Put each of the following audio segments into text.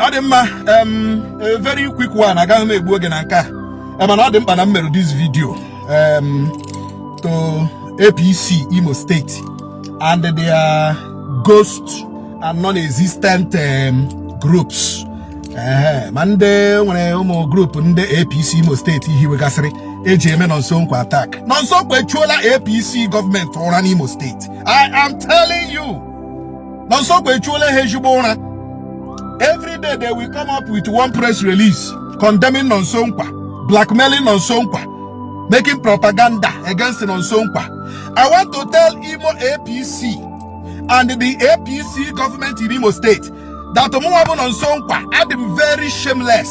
ọ dị mma a very quick one agaghị m egbu oge na nke a mana ọ dị mkpa na m mere this video to APC Imo State and their ghost and non-existent um, groups ma ndị nwere ụmụ group ndị APC Imo steeti hiwegasịrị e ji eme Nonso Nkwa attack Nonso Nkwa achụọla APC government ụra n'Imo steeti I am telling you Nonso Nkwa achụọla ha ezigbo ụra every day they will come up with one press release condemning Nonso Nkwa blackmailing Nonso Nkwa making propaganda against Nonso Nkwa I want to tell Imo APC and the APC government in Imo State that mụnwa bụ Nonso Nkwa adị m very shameless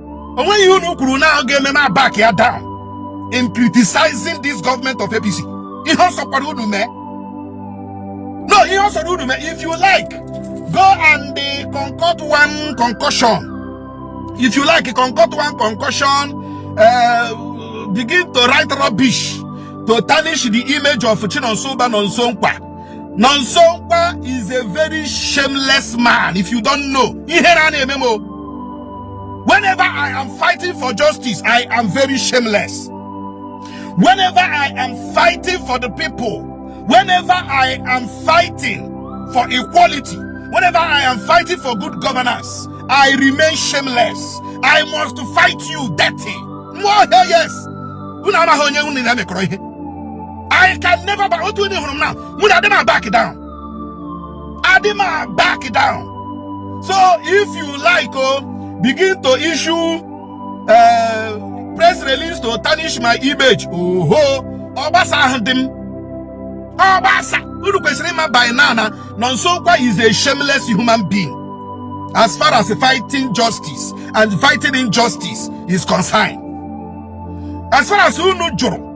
o nweghị ihe unu kwuru na ọ ga-eme m back ya down in criticizing this government of APC ihe ọ sọkwara unu mee no ihe ọ sọrọ unu mee if you like go and uh, concoct one concoction if you like concoct one concoction uh, begin to write rubbish to tarnish the image of Chinonso Uba Nonso Nkwa Nonso Nkwa is a very shameless man. If you don't know, whenever I am fighting for justice, I am very shameless. Whenever I am fighting for the people, whenever I am fighting for equality, whenever I am fighting for good governance, I remain shameless. I must fight you dirty. More yes. Una na onye unu na mekọrọ ihe. I can never back otu onye hụrụ m na mụ na adị m a back down adị m a back down so if you like o oh, begin to issue uh, press release to tarnish my image oho ọ gbasahụdị m ọ gbasa unu kwesịrị ịma by now na Nonso Nkwa is a shameless human being as far as fighting justice and fighting injustice is concerned as far as unu jụrụ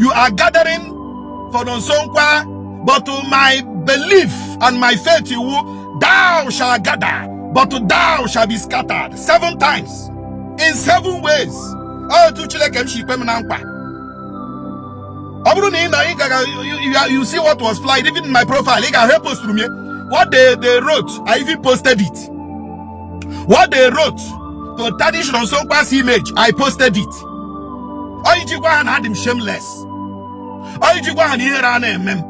you are gathering for Nonsonkwa, but my belief and my faith you will, thou shall gather, but thou shall be scattered seven times in seven ways. Oh, to Chineke m si ikpe m na nkwa. Ọ bụrụ na ị na ị gaga you see what was flying even in my profile ị ga-ahụ posturu m ya what they they wrote I even posted it what they wrote to tarnish Nonso Nkwa's image I posted it onye je gwa ha na adị m shameless onye je gwa ha na ihere anaghị eme m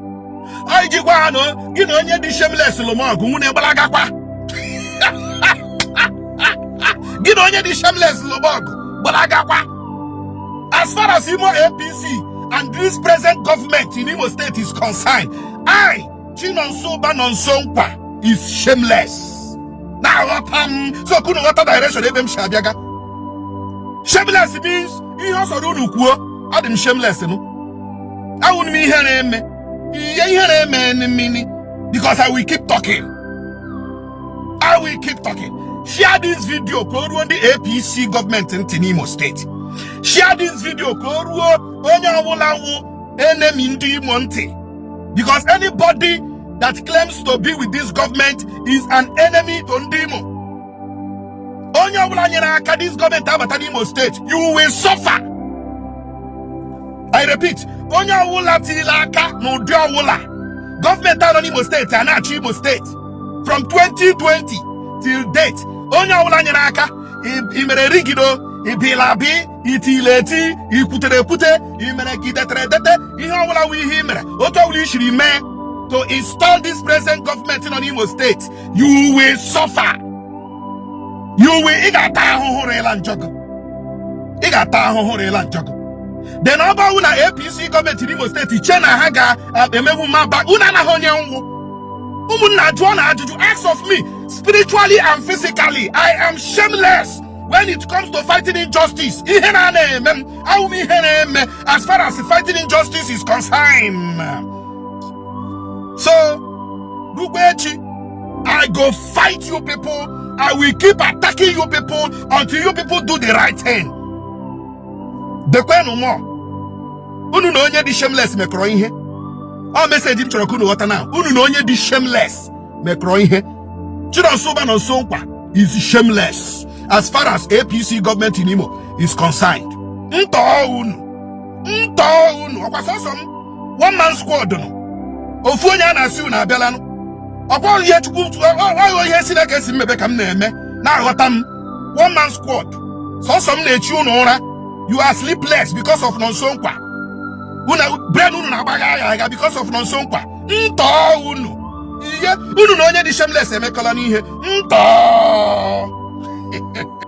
onye je gwa ha na gị na onye dị shameless lụma ọgụ nwanne gbalagakwa gị na onye dị shameless lụma ọgụ gbalagakwa as far as Imo APC and this present government in Imo State is concerned I Chinonso Uba Nonso Nkwa is shameless na-aghọta m so ka unu ghọta direction ebe m si abịaga shameless means ihe ọ sọrọ unu kwuo adị m shameless nụ awụrụ m ihere eme ya ihere eme mmiri because I will keep talking I will keep talking share this video ka o ruo ndị APC government ntị n'Imo steeti share this video ka o ruo onye ọbụla wụ enemy ndị Imo ntị because anybody that claims to be with this government is an enemy to ndị Imo onye ọbụla nyere aka this government abata n'Imo steeti you will suffer I repeat onye ọbụla tinyere aka n'ụdị ọbụla government a nọ n'Imo steeti a na-achị Imo steeti from 2020 till date onye ọbụla nyere aka i mere rigido ibila bi i tiri eti i kwutere ekwute i mere ka i detere edete ihe ọbụla wụ ihe i mere otu ọbụla i siri mee to install this present government nọ n'Imo steeti you will suffer you will ị ga-ata ahụhụ rịla njọgụ ị ga-ata ahụhụ rịla njọgụ then ọ bụrụ na APC gọọmenti n'Imo steeti che na ha ga-emegbu m, mba unu amaghị onye m wụ ụmụnna jụọnụ ajụjụ ask of me spiritually and physically I am shameless when it comes to fighting injustice ihere anaghị eme m awụ m ihere eme as far as fighting injustice is concerned so rukwaa echi i go fight you people i will keep attacking you people until you people do the right thing dekwenu mọ unu na onye dị shameless mekọrọ ihe ọ message m chọrọ ka unu ghọta na unu na onye dị shameless mekọrọ ihe chinonso ụba nonso nkwa is shameless as far as APC government in Imo is concerned. Ntọọ unu ntọọ unu ọkwa sọsọ m one man squad nụ ofu onye a na-asị unu abịalanụ ọkwa ihe chukwu ọ wụ ihe Chineke sị m mebe ka m na-eme na-aghọta m one man squad sọsọ m na-echi unu ụra you are sleepless because of nonso nkwa brain unu na-agbagha agha agha because of nonso nkwa ntọọ unu ihe unu na onye dị shameless emekọlanụ ihe ntọọ